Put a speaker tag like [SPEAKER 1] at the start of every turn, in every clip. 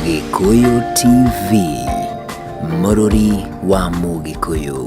[SPEAKER 1] Gĩkũyũ TV, mũrũri wa Mũgĩkũyũ.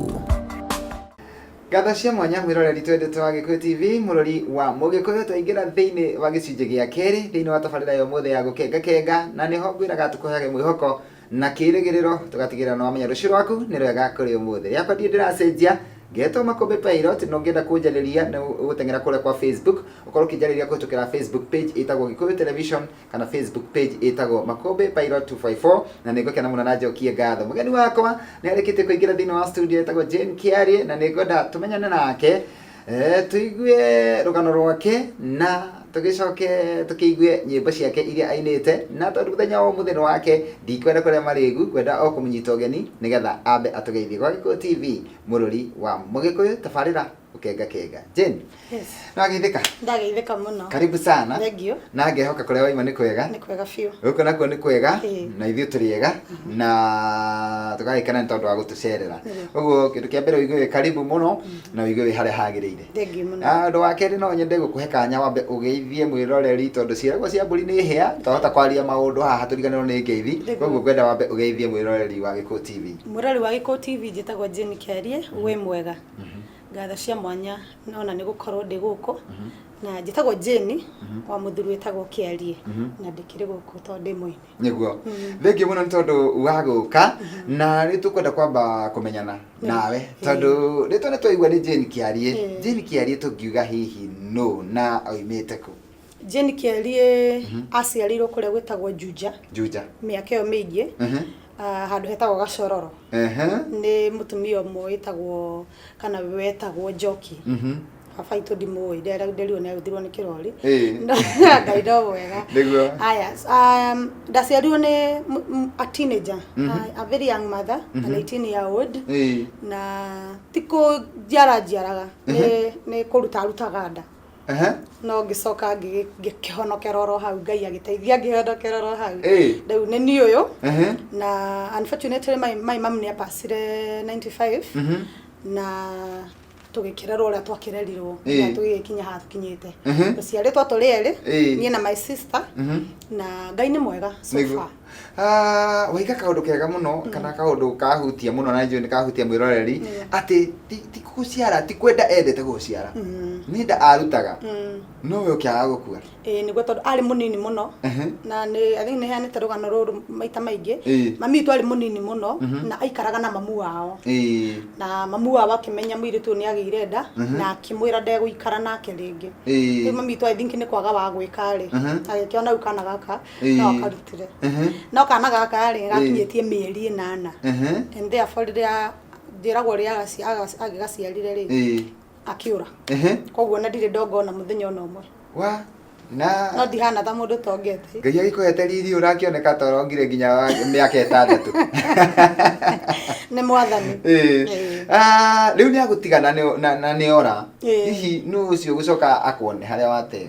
[SPEAKER 2] Ngatho cia mwanya mwĩroreri twendete wa Gĩkũyũ TV mũrori wa Mũgĩkũyũ twaingĩra thĩinĩ wa gĩcunjĩ gĩa kerĩ thĩinĩ wa tabarĩra ya ũmũthĩ ya gũkengakenga na nĩho ngwĩraga tũkũheage mwĩhoko na kĩĩrĩgĩrĩro tũgatigĩrĩra nĩ wamenya rũciũ rwaku nĩ rwega kũrĩ ũmũthĩ rĩakwa ndirĩ ndĩracenjia ngetwo makũmbĩ pilot na ũngĩenda kũnjarĩria nĩ ũgũteng'era kũrĩa kwa facebook ũkorwo ũkĩnjarĩria kũhĩtũkĩra facebook page ĩtagwo gĩkũyũ television kana facebook page ĩtagwo makũmbĩ pilot 254 na nĩ ngũkena mũno na njokie ngatho mũgeni wakwa nĩ arĩkĩtie kũingĩra thĩinĩ wa studio ĩtagwo jane kiarie na nĩ ngwenda tũmenyane nake Ee, tũigue rũgano rwake na tũgĩcoke tũkĩigue nyĩmbo ciake iria ainĩte na tondũ mũthenya wa ũmũthĩ nĩ wake ndikwenda kũrĩa marĩgu ngwenda o kũmũnyita ũgeni nĩgetha ambe atũgeithie gwa gĩkũyũ tv mũrũri wa mũgĩkũyũ tabarĩra ũkenga kenga jane Yes. nĩwageithĩka Ndageithĩka mũno.
[SPEAKER 3] karibu sana Thengiũ.
[SPEAKER 2] na ngehoka
[SPEAKER 3] kũrĩa waima
[SPEAKER 2] nĩ kwega Nĩ kwega biũ. gũkũ
[SPEAKER 3] nakuo nĩ kwega
[SPEAKER 2] Ĩĩ. na ithuĩ tũrĩ ega na tũgagĩkena nĩ tondũ wa gũtũcerera Nĩguo. ũguo kĩndũ kĩa mbere ũigue wĩ karibu mũno na wĩigue wĩ harĩa hagĩrĩire thengiũ mũno Ah, ũndũ wa
[SPEAKER 3] kerĩ no nyende
[SPEAKER 2] gũkũhe kanya wambe ũgeithie mwĩroreri tondũ ciĩragwo cia mbũri nĩ hĩa twahota kwaria maũndũ haha tũriganĩrwo nĩ ngeithi Nĩguo. koguo ngwenda wambe ũgeithie mwĩroreri wa gĩkũ tv mũrori wa gĩkũ tv
[SPEAKER 3] njĩtagwo jane kerie wĩ mwega ngatho cia mwanya nona nĩ gũkorwo ndĩ gũkũ na njĩtagwo jane wa mũthuri wĩtagwo kĩarie na ndĩkĩrĩ gũkũ tondũ ndĩ mwene nĩguo
[SPEAKER 2] rĩngĩ mũno nĩ tondũ wa gũka na rĩ tũkwenda kwamba kũmenyana nawe tondũ rĩtwa nĩ twaigua nĩ jane kĩariĩ Eh. jane kĩariĩ tũngiuga hihi nũ na oimĩte kũ jane kĩariĩ
[SPEAKER 3] aciarĩirwo kũrĩa gwĩtagwo juja juja mĩaka ĩyo mĩingĩ Mhm. ah, handũ hetagwo gacororo Ehe. nĩ mũtumia ũmwe wĩtagwo kana wetagwo njoki baba itũ ndimũĩ ndere- nderirwo nĩ agũthirwo nĩ kĩrori Ĩĩ. ngai no mwega Nĩguo. aya um, ndaciarirwo nĩ m- m- a teenager a- a very young mother an 18 year old Ĩĩ. na ti kũnjiara njiaraga nĩ- nĩ kũruta rutaga nda Ehe. no ngĩcoka ngĩgĩ- ngĩkĩhonokera oro hau ngai agĩteithia ngĩhonokera oro hau Ĩĩ. rĩu nĩ niĩ ũyũ Ehe. na unfortunately my, my mom nĩ apacire 95 Mhm. na tũgĩkĩrerwo ũrĩa twakĩrerirwo Ĩĩ. na tũgĩgĩkinya haha tũkinyĩte Ehe. tũciarĩtwo tũrĩ erĩ Ĩĩ. niĩ na my sister Mhm. na ngai nĩ mwega so Nĩguo. far Ah,
[SPEAKER 2] waiga kaundu kega muno mm. kana kaundu kahutia muno na njui kahutia mwiroreri mm. ati ti guciara ti kwenda endete guciara mm. ni nda arutaga no we ukiaga gukua eh niguo tondu ari
[SPEAKER 3] munini muno na ni athi ni hani tarugano ruru maita maingi mami tu ari munini muno mhm. na aikaraga na mamu wao na mamu wao akimenya mwiri tu ni agire nda mhm. na akimwira nde guikara nake ringi mami tu i think ni kwaga wa gwika ri agikiona ukana gaka Ĩĩ. no karutire Ehe. no kana gaka rĩ gakinyĩtie mĩeri ĩnana Ehe. and therefore rĩrĩa njĩragwo rĩrĩa agaci- agaci- agĩgaciarire rĩ Ĩĩ. akĩũra Ehe. koguo na ndirĩ ndonga ona mũthenya ona ũmwe wa no na
[SPEAKER 2] ndihana ta mũndũ
[SPEAKER 3] tongete ngai agĩkũhete riri
[SPEAKER 2] ũrakĩoneka ta ũrongire nginya wa mĩaka ĩtandatũ
[SPEAKER 3] nĩ mwathani Ĩĩ. Ĩĩ. Ah,
[SPEAKER 2] rĩu nĩ agũtigana nĩ- na- na nĩ ora Ĩĩ. hihi nũ ũcio gũcoka akuone harĩa wateo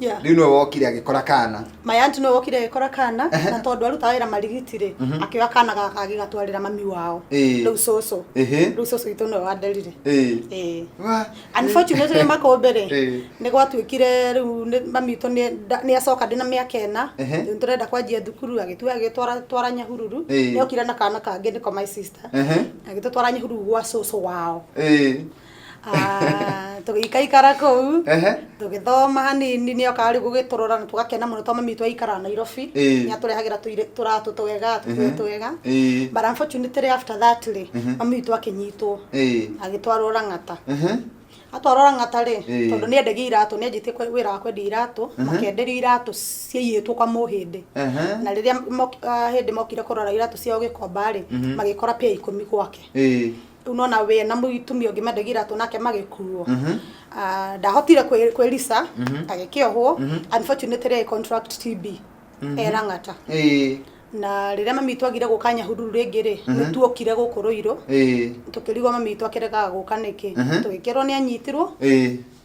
[SPEAKER 2] Yeah. rĩu nĩwe wokire agĩkora kana my aunt nĩwe wokire agĩkora
[SPEAKER 3] kana na tondũ arutaga wĩra marigiti rĩ akĩoya kana gaka agĩgatwarĩra mami wao Ĩĩ. rĩu cũcũ Ĩhĩ. rĩu cũcũ witũ nĩwe wanderire Ĩĩ. Ĩĩ. Wa- unfortunately makũmbĩ rĩ Ĩĩ. nĩ gwatuĩkire rĩu nĩ- mami witũ nĩ- nda- nĩ acoka ndĩ na mĩaka ĩna Ehe. rĩu tũrenda kwanjia thukuru agĩtua agĩtwara twara nyahururu Ĩĩ. nĩokire na kana kangĩ nĩko my sister Ehe. agĩtũtwara nyahururu gwa cũcũ wao Ĩĩ. Ah, tũgĩikaikara kũu Ehe. tũgĩthoma hanini nĩ okaga rĩu gũgĩtũrora na tũgakena mũno tondũ mami witũ aikaraga nairobi Ĩĩ. nĩ atũrehagĩra tũirĩ- tũratũ twega tũkuo twega Ĩĩ. but unfortunately after that rĩ mami witũ akĩnyitwo Ĩĩ. agĩtwarwo rang'ata Ehe. atwarwo rang'ata rĩ Ĩĩ. tondũ nĩ endagia iratũ nĩ anjĩtie kwe- wĩra wa kwendia iratũ makenderio iratũ ciaiyĩtwo kwa mũhĩndĩ Ehe. na rĩrĩa mok- ah, hĩndĩ mokire kũrora iratũ ciao gĩkomba rĩ magĩkora pĩa ikũmi gwake Ĩĩ. rĩu nona we na mũtumia ũngĩ mendagia iratũ nake magĩkuo Ah, ndahotire kwĩ- kwĩrisa agĩkĩohwo unfortunately I contract TB erang'ata ĩĩ na rĩrĩa mami witũ agire gũka nyahururu rĩngĩ rĩ nĩ tuokire gũkũ rũirũ ĩĩ tũkĩrigwo mami witũ akĩregaga gũka nĩkĩ tũgĩkerwo nĩ anyitirwo ĩĩ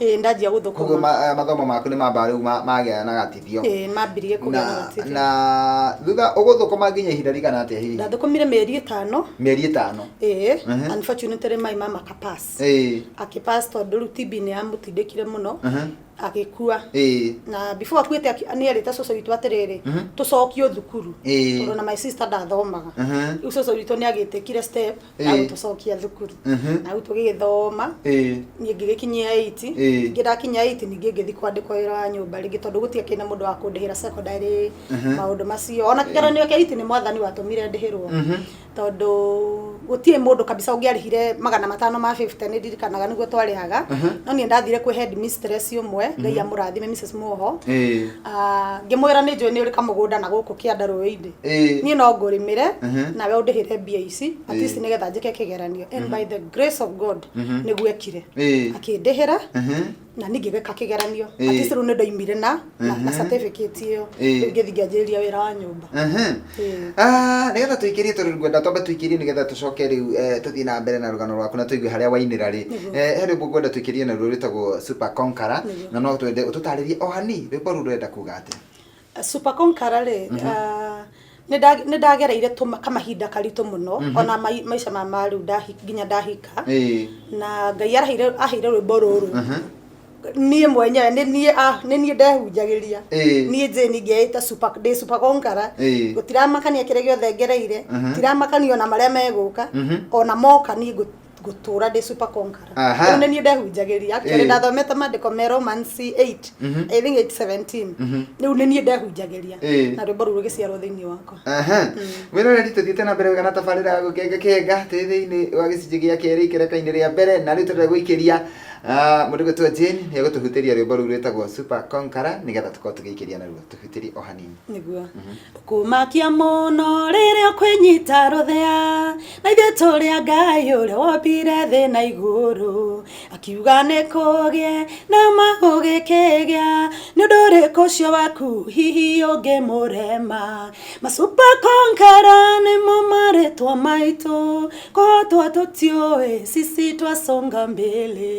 [SPEAKER 2] ĩĩ ndanjia koguo gũthũkũma
[SPEAKER 3] ma- eh, mathomo maku
[SPEAKER 2] nĩ mamba rĩu ma- magĩa na gatithio ĩĩ mambirie kũgĩa na na
[SPEAKER 3] gũtirĩ. na thutha
[SPEAKER 2] ũgũthũkũma nginya ihinda rĩigana atĩa hihi ndathũkũmire mĩeri ĩtano
[SPEAKER 3] mĩeri ĩtano ĩĩ Mhm. unfortunately maĩ ma makapass ĩĩ akĩpass tondũ rĩu TB nĩ yamũtindĩkire mũno Mhm. agĩkua ĩĩ na before akuĩte aki- nĩ erĩte cũcũ witũ atĩrĩrĩ Mhm. tũcokio thukuru Ĩĩ. tondũ na my sister ndathomaga Mhm. rĩu cũcũ witũ nĩ agĩtĩkire step Ĩĩ. na gũtũcokia thukuru Mhm. na rĩu tũgĩgĩthoma Ĩĩ. niĩ ngĩgĩkinyia iti Ĩĩ. ningĩ ndakinya iti ningĩ ngĩthiĩ kwandĩkwo wĩra wa nyũmba rĩngĩ tondũ gũtiakĩrĩ na mũndũ wa kũndĩhĩra secondary Mhm. maũndũ macio ona kĩgeranio kĩa iti nĩ mwathani watũmire ndĩhĩrwo Mhm. tondũ gũtirĩ mũndũ kabisa ũngĩarĩhire magana matano ma 50 nĩ ndirikanaga nĩguo twarĩhaga Mhm. no niĩ ndathire kwĩ head mistress ũmwe ngai amũrathime Mrs. Muoho Ĩĩ. Ah, ngĩmwĩra nĩ njũĩ nĩ ũrĩ kamũgũnda na gũkũ kĩanda rũĩ-inĩ Eh. niĩ no ngũrĩmĩre Mhm. nawe ũndĩhĩre mbia ici at least nĩgetha njĩke kĩgeranio and by the grace of god nĩguo ekire Eh. akĩndĩhĩra Mhm. na ningĩ gĩka kĩgeranio at Eh. least rĩu nĩ ndaimire na na- na certificate ĩyo Eh. rĩu ngĩthiĩ ngĩanjĩrĩria wĩra wa nyũmba Mhm. Eh. Ah,
[SPEAKER 2] nĩgetha tũikĩrie tondũ ngwenda twambe tũikĩrie nĩgetha tũcoke rĩu eh, tũthiĩ na mbere na rũgano rwaku na tũigue harĩa wainĩra rĩ Eh, he rwĩmbo ngwenda tũikĩrie na ruo rwĩtagwo super conqueror na no twende ũtũtarĩrie o hani rwĩmbo rũu rwenda kuga atĩa Super Conqueror
[SPEAKER 3] rĩ ah, nĩnda- nĩndagereire tũma- kamahinda karitũ mũno ona mai- maica ma ma rĩu ndahi- nginya ndahika Ĩĩ. na ngai araheire aheire rwĩmbo rũrũ Mhm. niĩ mwenyewe nĩ niĩ ah, nĩ niĩ ndehunjagĩria Ĩĩ. niĩ jeni ngeĩta super- ndĩ super conqueror Ĩĩ. gũtiramakania kĩrĩa gĩothe ngereire Mhm. tiramakania ona marĩa megũka Mhm. ona moka niĩ ngũ- gũtũra ndĩ super conqueror Aha. Rĩu nĩ niĩ ndehunjagĩria actually Eh. ndathomete maandĩko me Romans 8 Mhm. I think 8:17 Mhm. rĩu nĩ niĩ ndehunjagĩria Eh. na rwĩmbo rũu rũgĩciarwo thĩinĩ wakwa Aha. Mwĩroreri
[SPEAKER 2] tũthiĩte na mbere wega na tabarĩra ya gũkenga kenga tĩ thĩinĩ wa gĩcunjĩ gĩa kerĩ ikereka-inĩ rĩa mbere na rĩu tũrenda gũikĩria ah, mũndũ gwĩtwo Jane nĩ egũtũhutĩria rwĩmbo rũu rwĩtagwo Super Conqueror nĩgetha tũkorwo tũgĩikĩria naruo tũhutĩrie o hanini nĩguo
[SPEAKER 3] kumakia mũno rĩrĩa kwĩnyita rũthĩa Naithuĩ tũrĩ a Ngai ũrĩa wombire thĩ na igũrũ akiuga nĩ kũgĩe na ma gũgĩkĩgĩa nĩ ũndũ ũrĩkũ ũcio waku hihi ũngĩmũrema masupa konkara nĩmo marĩtwa maitũ kũhotwo tũtiũĩ sisi twasonga mbele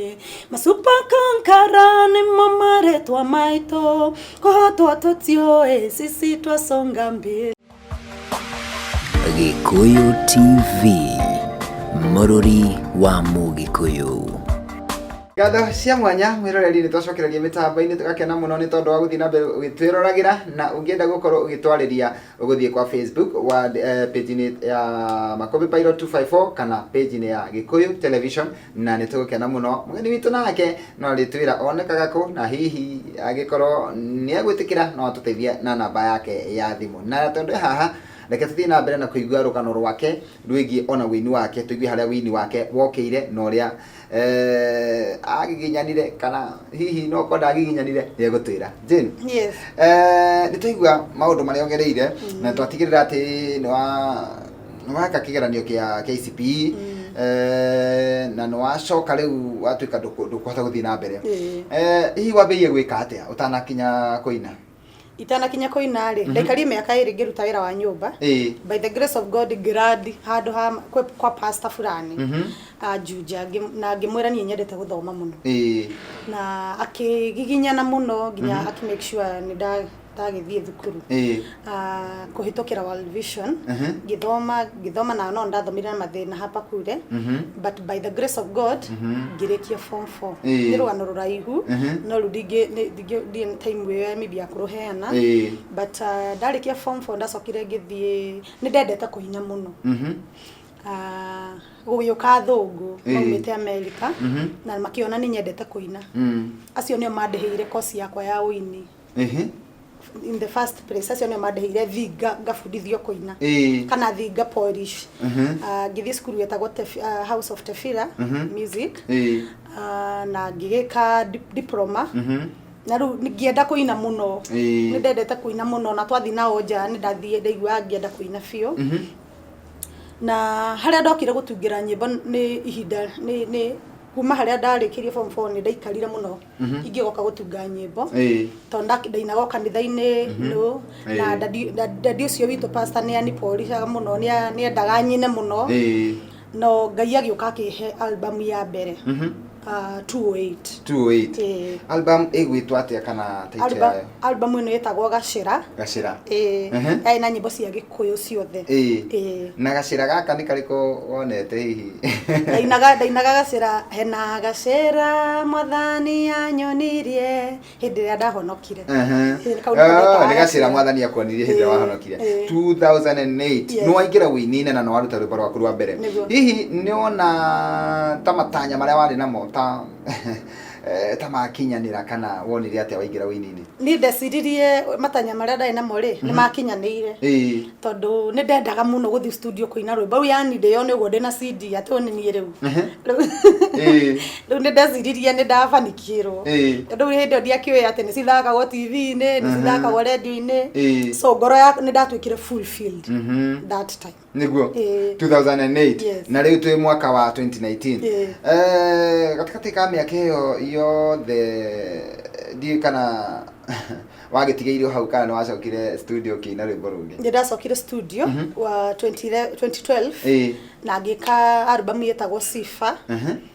[SPEAKER 3] masupa konkara nĩmo marĩtwa maitũ kũhotwo tũtiũĩ sisi twasonga mbele
[SPEAKER 1] Gĩkũyũ TV, mũrũri wa Mũgĩkũyũ.
[SPEAKER 2] Ngatho cia mwanya mwĩroreri nĩ twacokereria mĩtambo-inĩ tũgakena mũno nĩ tondũ wa gũthiĩ na mbere ũgĩtwĩroragĩra na ũngĩenda gũkorwo ũgĩtwarĩria ũgũthiĩ kwa Facebook wa eh, page-inĩ ya Makũmbĩ Pilot 254 kana page-inĩ ya Gĩkũyũ Television na nĩ tũgũkena mũno mũgeni witũ nake no rĩtwĩra onekaga kũ na hihi agĩkorwo nĩ egwĩtĩkĩra no atũteithie na namba yake ya thimũ na tondũ e haha reke tũthiĩ na mbere na kũigua rũgano rwake rwĩgiĩ ona wĩini wake tũigue harĩa wĩini wake wokĩire na ũrĩa eh, agiginyanire kana hihi no ũkorwo ndagiginyanire nĩ egũtwĩra Jane Yes. eh,
[SPEAKER 3] nĩ
[SPEAKER 2] twaigua maũndũ marĩa ũgereire na twatigĩrĩra atĩ nĩ wa weka kigeranio kia KCPE eh, na nwacoka riu watuika nduku- ndukuhota guthii na mbere Ĩĩ. Eh, hihi wambirie gwika atia utanakinya kuina
[SPEAKER 3] itanakinya kũina rĩ ndaikarie mĩaka ĩrĩ ngĩruta wĩra wa nyũmba Ĩĩ. by the grace of god ngĩrandi handũ ha kwa, kwa pasta fulani Mhm. anjunja ngĩ- na ngĩmwĩra niĩ nyendete gũthoma mũno Ĩĩ. na akĩgiginyana mũno nginya akĩ make sure nĩ nda ndagĩthiĩ thukuru ĩĩ Ah, kũhĩtũkĩra World Vision Mhm. ngĩthoma ngĩthoma na no ndathomire na mathĩna hapa kure Mhm. but by the grace of God ngĩrĩkia form 4 Ĩĩ. nĩ rũgano rũraihu Mhm. no rĩu ndingĩ nĩ- ndingĩ- ndirĩ na time ĩyo ya media ya kũrũheana Ĩĩ. but ah, ndarĩkia form 4 ndacokire ngĩthiĩ nĩ ndendete kũhinya mũno Mhm. Ah, gũgĩũka athũngũ Ĩĩ. maumĩte amerika Mhm. na makĩona nĩ nyendete kũina Mm. acio nĩo mandĩhĩire kosi yakwa ya ũini ehe in the first place acio nä mandehire thi nga- ngabundithio kå ina Eh. kana thi nga polish Mhm. Ah, ngĩthiĩ cukuru wetagwo Tef- ah, house of tefira Mhm. music eh Ah, na ngĩgä ka diploma mhm na rä u ngĩenda kå ina må no Eh. nä ndendete kå ina må no na twathiĩ nao nja nä ndathiä ndaigua ngĩenda kå ina biå mhm na harĩa ndokire gũtungĩra nyĩmbo nĩ ihinda nĩ nĩ kuma harĩa ndarĩkĩrie form four nĩ ndaikarire mũno ingĩgoka gũtunga nyĩmbo Ĩĩ. tondũ nda- ndainaga o kanitha-inĩ no Ĩĩ. na dadi- da- dadi ũcio witũ pastor nĩ aniporicaga mũno nĩ a- nĩ endaga nyine mũno Ĩĩ. no ngai agĩũka akĩhe album ya mbere Mhm. ah, 208 208 Ĩĩ. album ĩgwĩtwo
[SPEAKER 2] atĩa kana title Alba- yayo Album ĩno ĩtagwo
[SPEAKER 3] Gacĩra. Gacĩra. Ĩĩ. Ehe. Yarĩ na nyĩmbo cia Gĩkũyũ ciothe. Ĩĩ. Ĩĩ. Na
[SPEAKER 2] gacĩra gaka nĩ karĩkũ wonete hihi? ndainaga ndainaga
[SPEAKER 3] gacĩra hena gacĩra mwathani anyonirie hĩndĩ ĩrĩa ndahonokire Ehe. Ĩĩ, kau nĩko Oh, getaga
[SPEAKER 2] nĩ gacĩra gacĩra. mwathani akwonirie hĩndĩ ĩrĩa Ĩĩ, wahonokire ĩĩ. 2008 Yes. nĩ waingĩra ũini-inĩ na nĩ waruta rwĩmbo rwaku rwa mbere Nĩguo. hihi nĩ wona ta matanya marĩa warĩ namo ta Eh, ta makinyanĩra kana wonire atĩa waingĩra ũininĩ niĩ ndeciririe
[SPEAKER 3] matanya marĩa ndarĩ namo-rĩ nĩ makinyanĩire Ĩĩ. tondũ nĩ ndendaga mũno gũthiĩ studio kũina rwĩmbo rĩu yani ndĩyone ũguo ndĩna CD atĩ ũyũ nĩ niĩ rĩu Ehe. Rĩu- Ĩĩ. rĩu nĩ ndeciririe nĩ ndabanikirwo Ĩĩ. tondũ rĩu hĩndĩ ĩyo ndiakĩũĩ atĩ nĩ cithakagwo TV-inĩ nĩ cithakagwo radio-inĩ Ĩĩ. so ngoro ya nĩ ndatuĩkire fulfilled Mhm. that time niguo
[SPEAKER 2] Ĩĩ. 2008 Yes. na rĩu twĩ mwaka wa 2019 Ĩĩ. Eh, gatagatĩ ka mĩaka ĩyo yothe ndiũĩ kana wagĩtigĩirwo hau kana nĩ wacokire studio kĩina rwĩmbo rũngĩ nĩ ndacokire studio
[SPEAKER 3] wa 2011 Ĩĩ. na ngĩka albamu yetagwo sifa Mhm.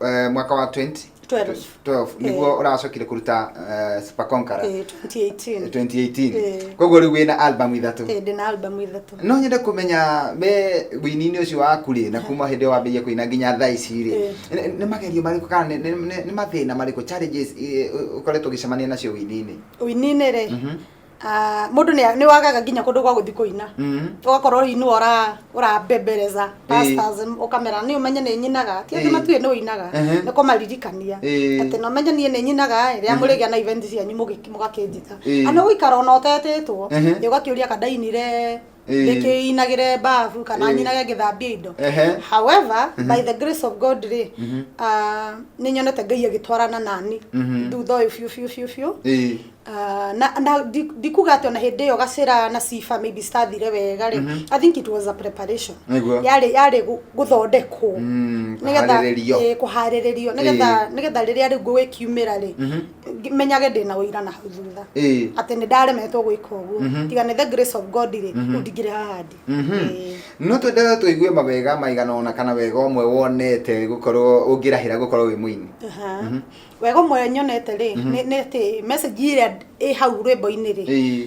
[SPEAKER 2] eh, mwaka wa 20 12 12 niguo uracokire kuruta eh, Super Conqueror eh, 2018 2018 Eh. koguo riu wina album ithatu Eh, ndĩ na albamu ithatũ
[SPEAKER 3] no nyende kumenya
[SPEAKER 2] me wini-inĩ ũcio waku rĩ na kuma hĩndĩ ĩyo wambĩrĩria kũina nginya thaa ici rĩ Eh. nĩ- nĩ magerio marĩkũ kana nĩ- nĩ nĩ- nĩ mathĩna marĩkũ challenges eh, ũkoretwo ũgĩcemania nacio wini-inĩ ũininĩ rĩ Mhm. ah, mũndũ
[SPEAKER 3] nĩ nĩ wagaga nginya kũndũ gwa gũthiĩ kũina Mhm. ũgakorwo hihi nĩwe ũra- ũrambembereza pastors ũkamera nĩ ũmenye nĩ nyinaga ti atĩ Ĩĩ. matuĩ nĩ ũinaga Ehe. nĩ kũmaririkania Ĩĩ. atĩ na ũmenye niĩ nĩ nyinaga ĩ, rĩrĩa mũrĩgĩa na event cianyu mũgĩ- mũgakĩnjĩta Ĩĩ. kana gũikara ona ũtetĩtwo Ehe. ĩ, ũgakĩũria kadainire Eh. ndĩkĩinagĩre mbabu kana Eh. nyinage ngĩthambia indo Ehe. however by the grace of god rĩ ah, nĩ nyonete ngai agĩtwarana nani Mhm. thutha ũyũ biũ biũ biũ biũ Eh. Ah, na na ndi- ndikuga atĩ ona hĩndĩ ĩyo gacĩra na sifa maybe citathire wega rĩ i think it was a preparation Nĩguo. yarĩ yarĩ gũ- gũthondekwo Mm, Nĩgetha- kũharĩrĩrio. eh, kũharĩrĩrio nĩgetha nĩgetha rĩrĩa rĩu ngũgĩkiumĩra rĩ ngi- menyage ndĩ na ũira na hau thutha Ĩĩ. atĩ nĩ ndaremetwo gwĩka ũguo Mhm. tiga nĩ the grace of god rĩ Mhm. rĩu ndingĩrĩ haha ndĩ Mhm. Ĩĩ. no
[SPEAKER 2] twendelee tũigue mawega maigana ona kana wega ũmwe wonete gũkorwo ũngĩrahĩra gũkorwo wĩ mũini Aha. Mhm. wega
[SPEAKER 3] ũmwe nyonete rĩ Mhm. nĩ nĩ atĩ message ĩrĩa ĩ hau rwĩmbo-inĩ rĩ Ĩĩ.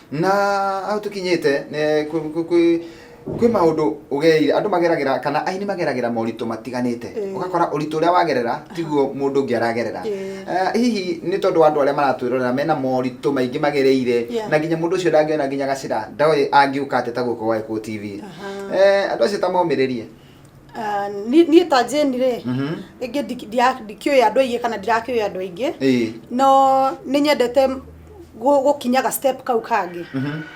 [SPEAKER 3] Na
[SPEAKER 2] hau
[SPEAKER 3] tũkinyĩte nĩ-
[SPEAKER 2] kwĩ-
[SPEAKER 3] kwĩ-
[SPEAKER 2] kwĩ- kwĩ maũndũ ũgereire andũ mageragĩra kana aini mageragĩra moritũ matiganĩte Ĩĩ. ũgakora ũritũ ũrĩa wagerera tiguo mũndũ ũngĩ aragerera Ĩĩ. Eh, hihi nĩ tondũ wa andũ arĩa maratwĩrorera mena moritũ maingĩ magereire Yeah. na nginya mũndũ ũcio ndangĩona nginya gacĩra ndoĩ angĩũka atĩa ta gũkũ gwake kũu tv Aha. Eh, andũ acio ta momĩrĩrie Ah,
[SPEAKER 3] ni- niĩ ta jeni rĩ rĩngĩ ndi- ndia- ndikĩũĩ andũ aingĩ kana ndirakĩũĩ andũ aingĩ Ĩĩ. no nĩ nyendete gũ- gũkinyaga step kau kangĩ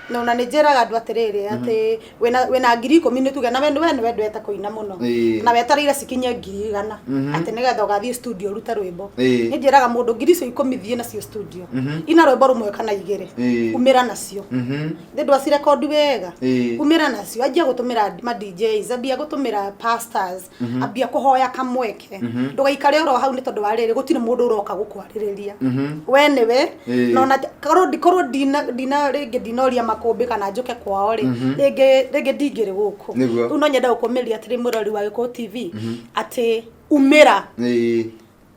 [SPEAKER 3] no na nĩ njĩraga andũ atĩrĩrĩ atĩ wĩna- wĩna ngiri ikũmi nĩ tuge na we we nĩ wendete kũina mũno Ĩĩ. na wetereire cikinye ngiri igana atĩ nĩgetha ũgathiĩ studio ũrute rwĩmbo Ĩĩ. nĩ njĩraga mũndũ ngiri icio ikũmi thiĩ nacio studio ina rwĩmbo rũmwe kana igĩrĩ Ĩĩ. umĩra nacio Mhm. Thĩ ndwacirekondi wega Ĩĩ. umĩra nacio anjia gũtũmĩra ma DJs ambia gũtũmĩra pastors ambia kũhoya kamweke ndũgaikare oro hau nĩ tondũ wa rĩrĩ gũtirĩ mũndũ ũroka gũkwarĩrĩria we nĩwe Ĩĩ. na ona korwo ndi- korwo ndina ndina rĩngĩ ndinoria makũmbĩ kana njũke kwao rĩ rĩngĩ rĩngĩ ndingĩrĩ gũkũ Nĩguo. rĩu no nyenda gũkũmĩria atĩrĩ mũrori wa gĩkũyũ tv atĩ umĩra Ĩĩ.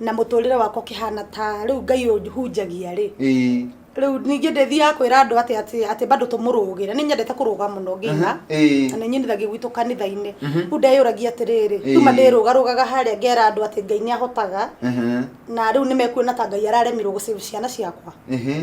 [SPEAKER 3] na mũtũrĩre wakwa ũkĩhana ta rĩu ngai ũhunjagia rĩ Ĩĩ. rĩu ningĩ ndĩthiaga kwĩra andũ atĩ atĩ atĩ bado tũmũrũgĩre nĩ nyendete kũrũga mũno ngĩina Ĩĩ. na nĩ nyinithagia gwitũ kanitha-inĩ rĩu ndeyũragia atĩrĩrĩ Ĩĩ. tuma ndĩrũgarũgaga harĩa ngera andũ atĩ ngai nĩ ahotaga Mhm. na rĩu nĩ mekuona ta ngai araremirwo gũcĩbu ciana ciakwa Mhm.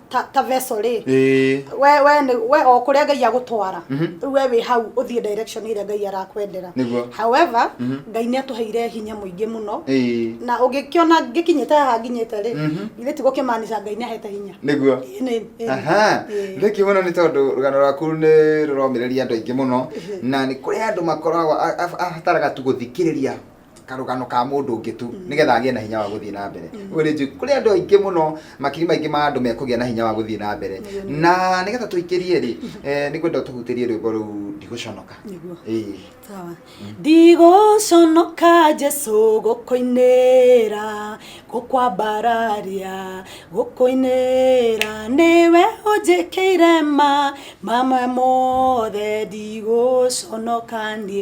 [SPEAKER 3] ta ta vessel rĩ ĩĩ we we nĩ- we o kũrĩa ngai agũtwara Mhm. rĩu we wĩ hau ũthiĩ direction ĩrĩa ngai arakwendera Nĩguo. however Mhm. ngai nĩ atũheire hinya mũingĩ mũno ĩĩ na ũngĩkĩona ngĩkinyĩte haha nginyĩte rĩ Mhm. githĩ ti gũkĩmaanica ngai nĩ ahete hinya nĩguo Ĩ, nĩ-
[SPEAKER 2] ĩ, aha ĩ. thĩki mũno nĩ tondũ rũgano rwaku nĩ rũromĩrĩria andũ aingĩ mũno na nĩ kũrĩ andũ makoragwo a- a- abataraga tu gũthikĩrĩria karũgano ka mũndũ ũngĩ tu mm. nĩgetha agĩe na hinya wa gũthiĩ na mbere mm. ũguo nĩ njũĩ kũrĩ andũ aingĩ mũno makiri maingĩ ma andũ mekũgĩa na hinya wa gũthiĩ na mbere na nĩgetha tũikĩrie rĩ mm-hmm. eh, nĩ kwenda tũhutĩrie rwĩmbo rũu ndigũconoka mm.
[SPEAKER 3] ndigũconoka jesu gũkũinĩra gũkwambararia gũkũinĩra nĩwe ũnjĩkĩire ma mamwe mothe ndigũconoka niĩ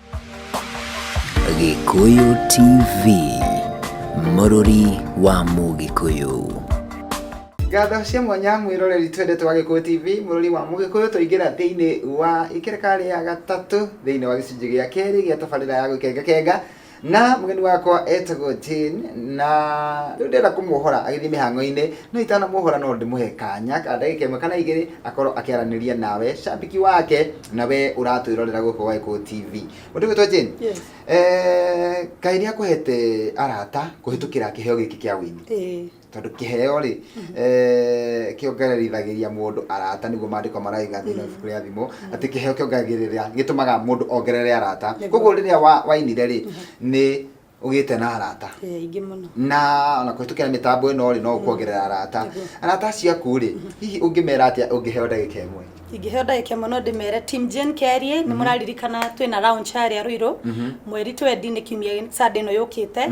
[SPEAKER 1] Gĩkũyũ TV, mũrũri wa Mũgĩkũyũ.
[SPEAKER 2] Ngatho cia mwanya mwĩroreri twendete wa Gĩkũyũ TV, mũrũri wa Mũgĩkũyũ, tũingĩra thĩinĩ wa ikereka rĩa gatatũ thĩinĩ wa gĩcunjĩ gĩa kerĩ gĩa tabarĩra ya gũkengakenga na mũgeni wakwa etagwo Jane na rĩu ndĩrenda kũmuohora agĩthiĩ mĩhang'o-inĩ no itanamuohora no ndĩmũhe kanya ka ndagĩka ĩmwe kana igĩrĩ akorwo akĩaranĩria nawe cambĩki wake na we uratwirorera guku waiko tv utugitwa jane Yes. eh kai ni akuhete arata kuhitukira kiheo giki kia wini Eh, tondu kiheo ri eh kiongererithagiria mundu arata niguo maandiko maraiga thiini wa ibuku ria thimo ati kiheo kiongeragirira gitumaga mundu ongerere arata Nĩguo. koguo riria wa- wainire ri ni ũgĩte na arata Eh, aingĩ mũno na
[SPEAKER 3] ona kũhĩtũkĩra
[SPEAKER 2] mĩtambo ĩno rĩ no ũkuongerera arata Nĩguo. arata acio aku rĩ hihi ũngĩmera atĩa ũngĩheo ndagĩka ĩmwe ingĩheo ndagĩka ĩmwe no
[SPEAKER 3] ndĩmere team Jane Kerie nĩ mũraririkana twĩ na round harĩa Ruiru mweri twendi nĩ kiumia Sunday ĩno yũkĩte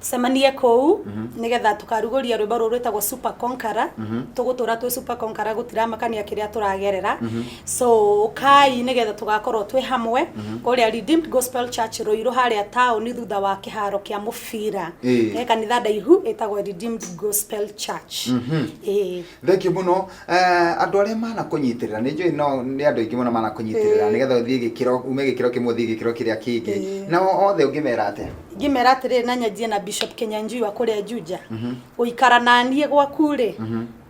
[SPEAKER 3] tucemanie kũu nĩgetha tũkarugũria rwĩmbo rũrũ rwĩtagwo Super Conqueror tũgũtũra twĩ Super Conqueror gũtiramakania kĩrĩa tũragerera so kai nigetha tugakorwo twi hamwe mhm. kuria redeemed gospel church ruiru haria taoni thutha wa kiharo kia mubira e kanitha ndaihu etagwo redeemed gospel church mhm. e
[SPEAKER 2] thengio muno eh, andu aria mana kunyitirira ni njui no ni andu aingi muno mana kunyitirira nigetha uthie gikiro ume gikiro kimwe uthie gikiro kiria kingi na othe ungimera atia ngimera atiriri na
[SPEAKER 3] nyanjie na bishop kinyanjui wa kuria juja mhm. guikara nanie gwaku ri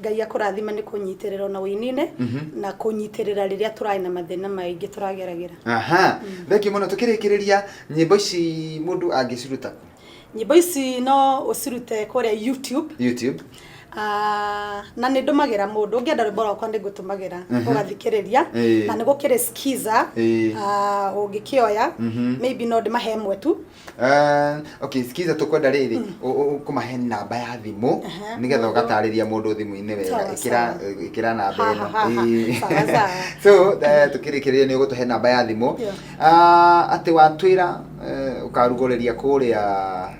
[SPEAKER 3] ngai akũrathime nĩ kũnyitĩrĩra ona wĩinine na kũnyitĩrĩra rĩrĩa tũraĩ na mathĩna maingĩ tũrageragĩra aha thengio
[SPEAKER 2] mũno tũkĩrĩkĩrĩria nyĩmbo ici mũndũ angĩciruta kũ? nyĩmbo ici
[SPEAKER 3] no ũcirute kũrĩa youtube youtube Ah, na nä ndå magä ra må ndå å ngä enda rwä mbo rwakwa nä ngå tå magä ra å gathikä rä ria Ĩĩ. na nä gå kä rä skiza Ĩĩ. å ngä kä oya maybe no ndä mahe mwe tu Eh,
[SPEAKER 2] okay skiza tukwenda riri kumahe namba ya thimu Aha. nigetha ugatarĩria mũndũ thimũ-inĩ wega Sawa, ĩkĩra sawa. ĩkĩra namba Ha, ĩno ha, ha, ha. Ĩĩ. Sawa, sawa. so eh, tukĩrĩkĩrĩria nĩ ũgũtũhe namba ya thimũ Yeah. Ah, atĩ watwĩra eh, ũkarugũrĩria kũrĩa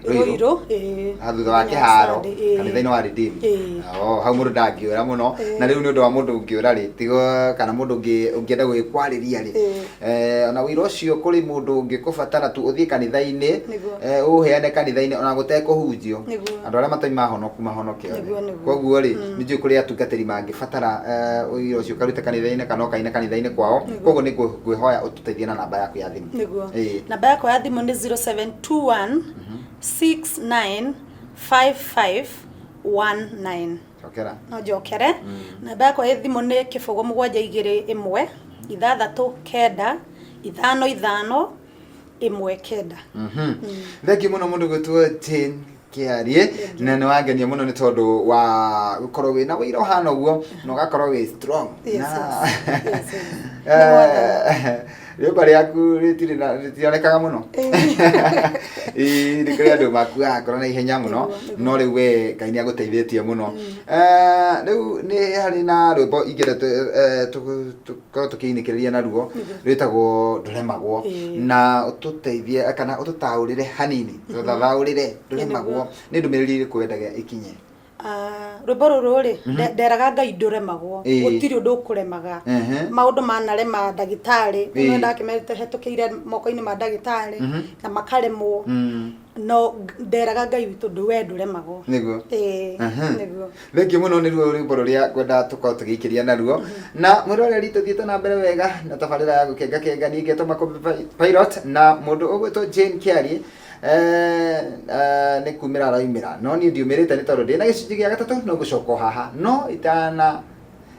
[SPEAKER 2] rũirũ Rũirũ, ĩĩ. Ah, thutha wa Mũthenya wa kĩharo Sunday, ĩĩ. kanitha-inĩ wa redeem Ĩĩ. Oh, hau mũndũ ndangĩũra mũno Ĩĩ. na rĩu nĩ ũndũ wa mũndũ ũngĩũra rĩ tigo kana mũndũ ũngĩ- ũngĩenda gũgĩkwarĩria rĩ Ĩĩ. Eh, ona ũira ũcio kũrĩ mũndũ ũngĩkũbatara tu ũthiĩ kanitha-inĩ Nĩguo. eh, ũũheane kanitha-inĩ ona gũtekũhunjio Nĩguo. andũ arĩa matarĩ mahonoku mahonoke one. Nĩguo, nĩguo. koguo rĩ nĩ njũĩ kũrĩ atungatĩri mangĩbatara eh, ũira ũcio ũkarute kanitha-inĩ kana ũkaine kanitha-inĩ kwao Nĩguo. koguo nĩ ngwĩ- ngwĩhoya ũtũteithie na namba yaku ya thimũ nĩguo Ĩĩ. namba yakwa ya
[SPEAKER 3] thimũ nĩ 0721 695519 cokera no
[SPEAKER 2] njokere
[SPEAKER 3] namba yakwa ĩ thimũ nĩ kĩbũgũ mũgwanja igĩrĩ ĩmwe ithathatũ kenda ithano ithano ĩmwe kenda
[SPEAKER 2] thengi muno mundu gwitwo jane kiarie na nä wangenia må no nä tondå wa gå korwo wä na wä ira å hana å guo na å gakorwo wä strong Yes, yes. Yes, yes. Nĩ mwathani. rĩũmba rĩaku rĩtirĩ na rĩtionekaga mũno Ĩĩ, nĩ kũrĩ andũ makuaga ngoro na ihenya mũno Nĩguo, nĩguo. no rĩu we ngai nĩ agũteithĩtie mũno Eh, rĩu nĩ harĩ na rwĩmbo ingĩenda tũ- eh, tũ- tũkorwo tũkĩinĩkĩrĩria naruo rwĩtagwo ndũremagwo Ĩĩ. na ũtũteithie kana ũtũtaũrĩre hanini tũthathaũrĩre ndũremagwo nĩ ndũmĩrĩri ĩrĩkũ wendaga ĩkinye Ah, rwĩmbo
[SPEAKER 3] rũrũ rĩ nde- nderaga ngai ndũremagwo Ĩĩ. gũtirĩ ũndũ ũkũremaga Ehe. maũndũ manarema ndagĩtarĩ Ĩĩ. nĩ ndakĩmerĩte hetũkĩire moko-inĩ ma ndagĩtarĩ na makaremwo Mm, no ng- nderaga ngai witũ ndũ we ndũremagwo nĩguo Ĩĩ, Aha.
[SPEAKER 2] nĩguo thengio mũno nĩ ruo rwĩmbo rũrĩa ngwenda tũkorwo tũgĩikĩria naruo na mwĩroreri tũthiĩte na mbere wega na tabarĩra ya gũkengakenga niĩ ngetwo makũmbĩ Pi- pilot na mũndũ ũgwĩtwo jane kiari Eeh, nĩ kumĩra araumĩra, no niĩ ndiumĩrĩte nĩ tondũ ndĩ na gĩcunjĩ gĩa gatatũ no gũcoka o haha, no itana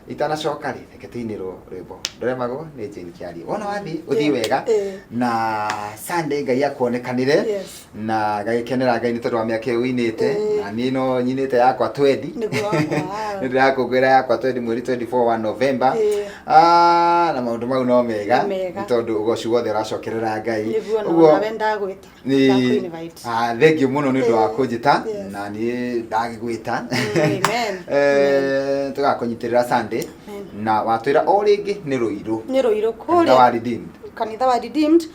[SPEAKER 2] itanacoka rĩ reke tũinĩrwo rwĩmbo ndoremagwo nĩ Jane Kĩarie wona wathiĩ ũthiĩ wega Eh. na Sunday Ngai akuonekanĩre Yes. na gagĩkenera Ngai nĩ tondũ wa mĩaka ĩyo ũinĩte Eh. na niĩ no nyinĩte yakwa twendi Nĩguo wakwa. nĩ ndĩrakũngũĩra yakwa twendi mweri 24 wa Novemba Eh. Ah, na maundu mau no mega Nĩ mega. nĩ tondu ugoci wothe uracokerera ngai nĩguo Ũguo- nawe
[SPEAKER 3] ndagwĩta Nĩ- ndakwĩnvite Ah,
[SPEAKER 2] thengiũ mũno nĩ ũndũ wa kũnjĩta Yes. na niĩ ndagĩgwĩta Amen. Eh, tũgakũnyitĩrĩra Sunday Amen. na watwĩra o rĩngĩ nĩ rũirũ nĩ rũirũ Kanitha wa kũrĩa Redeemed.
[SPEAKER 3] kanitha
[SPEAKER 2] wa redeemed